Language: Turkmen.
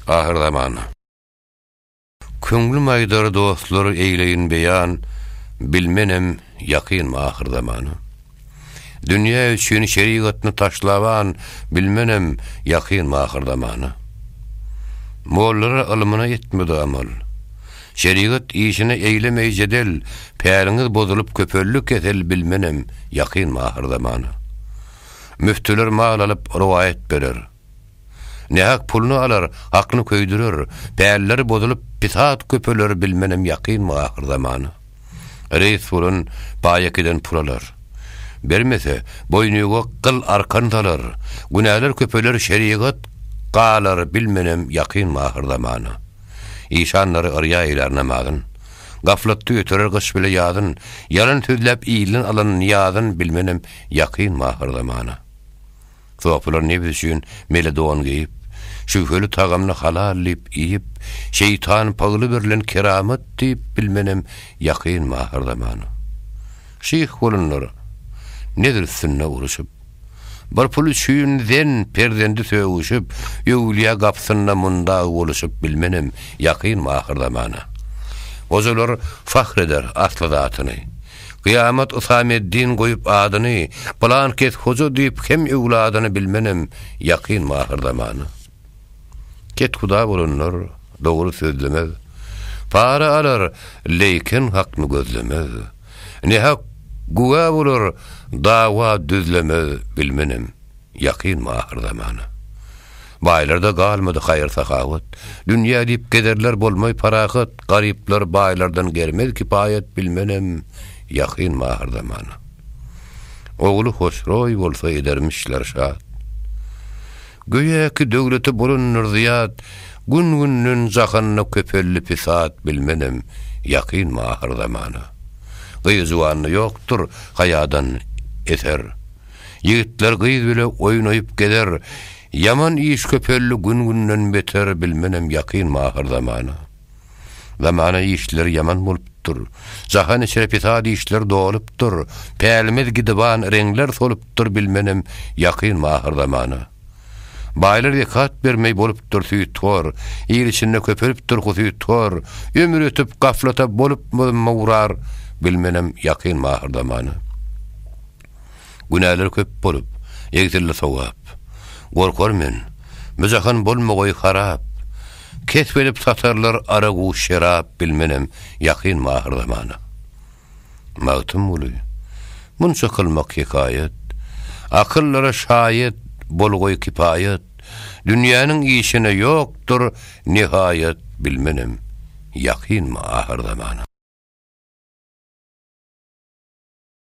Ahyr zaman. Köňlüm aýdar dostlar eýleýin beýan, Bilmenem ýakynmy ahyr zaman. Dünýä üçin şerigatny taşlaban, Bilmenem ýakynmy ahyr zaman. Mollara ylmyna etmedi amal, Şerigat işine eýlemeý jedel, Päliňiz bozulyp köpeldi kesel, Bilmenem ýakynmy ahyr zaman. Müftüler mal alyp rowaýat berer. Nähak puluny alar, aklyny köýdürer, pälleri bozulyp, pisat köpeler bilmenem ýakynmy ahyrzamana? Reýs bolan baýakiden pul alar. Bermese, boýnuýga gyl-arkan salar, günäler köpeler şerigat galar bilmenem ýakynmy ahyrzamana? Işanlary yrýa eýlär namazyn. Gaflatda ýöterer gyş bile ýazyn, ýalan sözläp ilden alan nyýazyn bilmenem ýakynmy ahyrzamana? Sopular nebs üçin mele don geýip, şübheli tagamny halal diýip iýip, şeýtan pagly berlen keramat diýip bilmenem ýakyn mahyr zamana. Şyh bolanlar nezr üstünde uruşyp, bir pul üçin zen, perzendi sögüşip, öwlüýä gapysynda mundag boluşyp bilmenem ýakyn mahyr zamana. Gojalar fahr eder asly zatyny. Kyýamat Husameddin goýup adyny, Pylan kes hoja diýip hem öwladyny bilmenem ýakyn mahyr zamana. Kethuda bolanlar dogry sözlemez, Para alar, leýken hakny gözlemez. Nähak güwä bolar, dawa düzlemez bilmenem. Ýakynmy ahyr zamana? Baýlarda galmady haýyr-sahawat, Dünýä diýip gezerler bolmaý parahat, Garyplar baýlardan germez kipaýat Bilmenem, ýakynmy ahyr zamana? Ogly Hosroý bolsa edermişler şat. Göýäki döwleti bolandyr zyýat, Gün-günden jahanda köpeldi pisat Bilmenem, ýakynmy ahyr zamana? Gyz-juwanda ýokdur haýadan eser. Ýigitler gyz bile oýnaýyp gezer, Ýaman iş köpeldi gün-günden beter Bilmenem ýakyn my ahyr zamana. Zamana işleri ýaman bolupdyr, Jahan içre fesat işler dolupdyr, Pälimiz gidiban reňler solupdyr Bilmenem ýakyn my ahyr zamana. Baýlar zekat bermeý bolupdyr süýthor, Il içinde köpelipdir husythor, Ömür ötüp gaflata bolupmyzm mugrar Bilmenem ýakyn my ahyr zamana. Günäler köp bolup, egsildi sogap. Gorkar men, bu jahan bolmagoý harap. Kesp edip satarlar aragu şerap bilmenem ýakynmy ahyr zamana. Magtymguly, munça kylmak hekaýat, akyllara şaýat bolgoý kipaýat, dünýäniň işine ýokdur nihaýat bilmenem ýakynmy ahyr zamana.